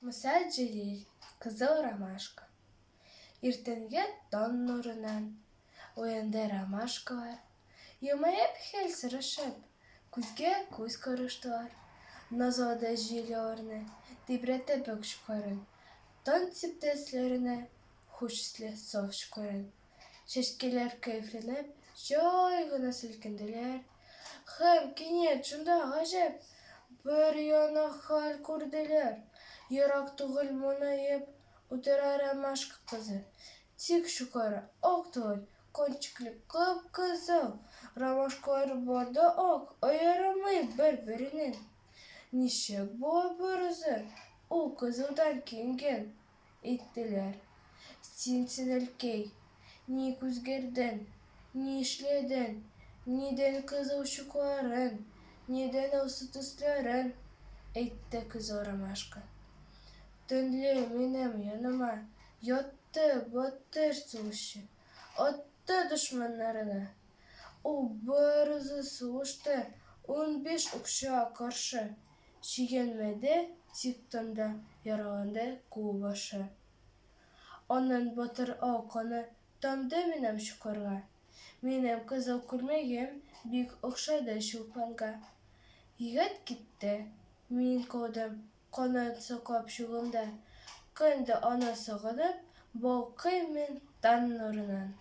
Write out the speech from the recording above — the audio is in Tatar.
Муса Җәлил, Кызыл ромашка. Иртәнге тан нурынан уянды ромашкалар. Елмаеп хәл сорашып, күзгә күз караштылар. Назлады җил аларны, тибрәтеп үк чукларын. Тан сиптәсләренә хуш исле саф чукларын. Чәчкәләр кәефләнеп, җай гына селкенделәр. Һәм кинәт шунда гаҗәп бер яна хәл күрделәр. Ерак түгел монаеп утыра ромашка кызы. Тик чукары ак түгел, кончиклы кып-кызыл. Ромашкалары бар да ак, аерымы бер-беренең. Ничек була берүзе? Ул кызылдан киенгән, әйттеләр. Син, Сенелкәй, ник үзгәрдең? Ни эшләдең? Нидән кызыл чукларын, нидән алсу төсләрен? әйтте көзге ромашка. Төнлә минем яныма ятты батыр сугышчы, атты дошманнарына. Ул барысын сугышта унбиш укчыга каршы. Чигенмәде тиктан да яраланды кулбашы. Аннан батыр ал каны тамды минем чокырга. Минем кызыл күлмәгем бик охшады чулпанга. Егет китте, мин калдым канат саклап чугымда. Көн дә аны сагынып, балкыйм мин таң нурынан.